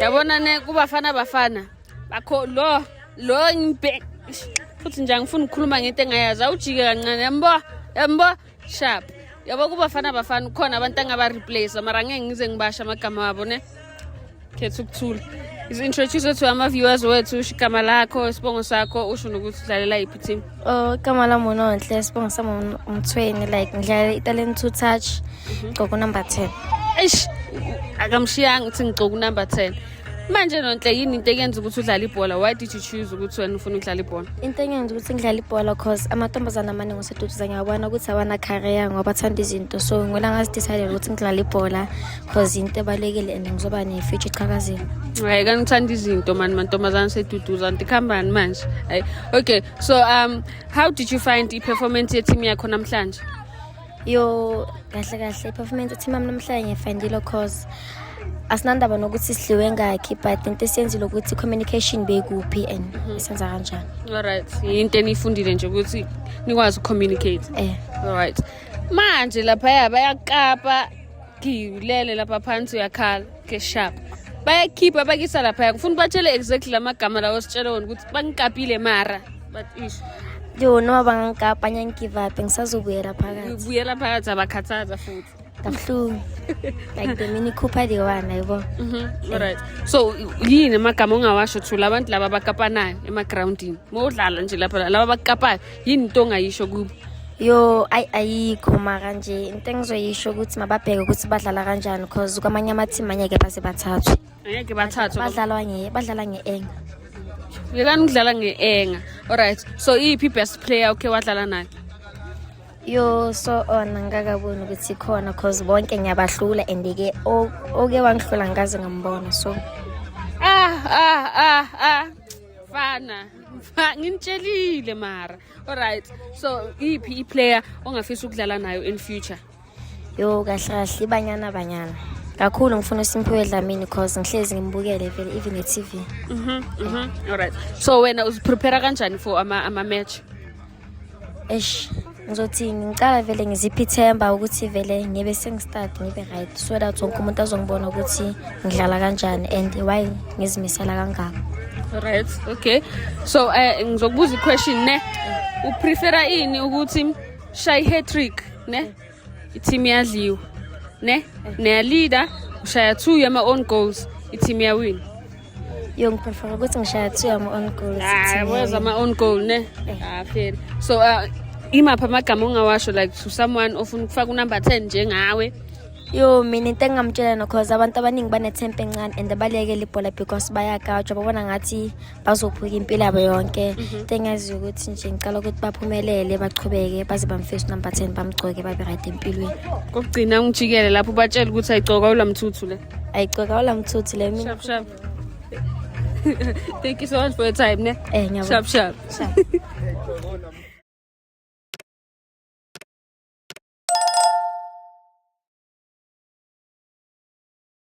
yabona ne kubafana bafana bakho lo lo ngibe futhi nje angifuni ukukhuluma ngento engayazi awujike kancane yambo yambo sharp yabo kubafana bafana ukhona abantu angabareplace mara ngeke ngize ngibasha amagama wabo ne khetha ukuthula is introduce to ama-viewers wethu usho igama lakho isibongo sakho usho nokuthi udlalela yiphi team Oh, igama lami unonhle sibongo sami umthweni like ngidlala italent to touch gcoka unumber 10 eish akamshiyanga ukuthi ngigcoka unumber 10 manje nonhle yini into eyenza ukuthi udlale ibhola why did you choose ukuthi wena ufuna ukudlala ibhola into engenza ukuthi ngidlale ibhola cause amantombazane amaningi oseduduza ngiyabona ukuthi awana career ngoba athanda izinto so ngwena ngazidecidele ukuthi ngidlale ibhola cause into ebalulekile and ngizoba ne-future echakazile hayi kangithanda izinto mani mantombazane seduduza nti kuhambani manje hayi okay so um how did you find i-performance ye-team yakho namhlanje yo kahle kahle i-performance ye-team yami namhlanje ngiyifindile cause asinandaba nokuthi sidliwe ngakhi but into esiyenzile ukuthi communication bekuphi and mhm. senza kanjani alright yinto eniyifundile nje ukuthi nikwazi ucommunicate eh alright manje laphaya bayakapa Ngilele lapha phansi uyakhala ke sharp. Bayakhipha bakisa lapha kufuna batshele exactly lamagama lawo sitshele wona ukuthi bangikapile mara but ish. Yo noma bangangikapa ngiyangigive up ngisazobuyela phakathi. Ubuyela phakathi abakhathaza futhi. Kabuhlungu. like the mini Cooper the one ayibo. Mhm. All right. So yini amagama ongawasho thula abantu laba bakapanayo ema groundini. Mawudlala nje lapha laba bakapayo. yini into ongayisho kubo yo ayi ayikho mara nje into engizoyisho ukuthi mababheke ukuthi badlala kanjani because kwamanye amathimu angeke baze bathathwe angeke bathathwe badlalwa nge badlala nge-enga yekani ukudlala nge-enga alright so iyiphi i-best player ukhe wadlala nayo yo so ona ngikakaboni ukuthi khona cause bonke ngiyabahlula and-ke oke wangihlula ngikaze ngambona so ah ah ah ah fana nginitshelile mara alright so iphi iplayer ongafisa ukudlala nayo in future yo kahle kahle ibanyana banyana kakhulu ngifuna uSimphiwe Dlamini cause ngihlezi ngimbukele vele even e-TV. Mhm. Mhm. Alright. So wena uziprepare kanjani for ama ama match? eish ngizothi ngicala vele ngiziphe ithemba ukuthi vele ngibe sengistart ngibe right so that wonke umuntu azongibona ukuthi ngidlala kanjani and why ngizimisela kangaka right okay so um uh, ngizokubuza iquestion ne uprefera ini ukuthi shayi hat-trick ne i-team yadliwa ne niyaleader ushaya two yama-own goals i-team yawina yo ngiprefera ukuthi ngishaya two yama-own goals weza ah, ama-own goal ne eh. ah, fair so uh, imaphi amagama ongawasho like to someone ofuna ukufaka unumber ten njengawe yo mina into engingamtshela no cause abantu abaningi banethempe encane and balekele ibhola because bayagajwa babona ngathi bazophuka impilo yabo yonke mhm. into engaziyo ukuthi nje ngicala ukuthi baphumelele bachubeke baze bamfesi number ten bamgcoke babe right empilweni kokugcina ungijikele lapho batshele ukuthi ayigcoka ulamthuthu le ayigcoka ulamthuthu le mina shap shap thank you so much for your time ne eh ngiyabona shap shap, shap.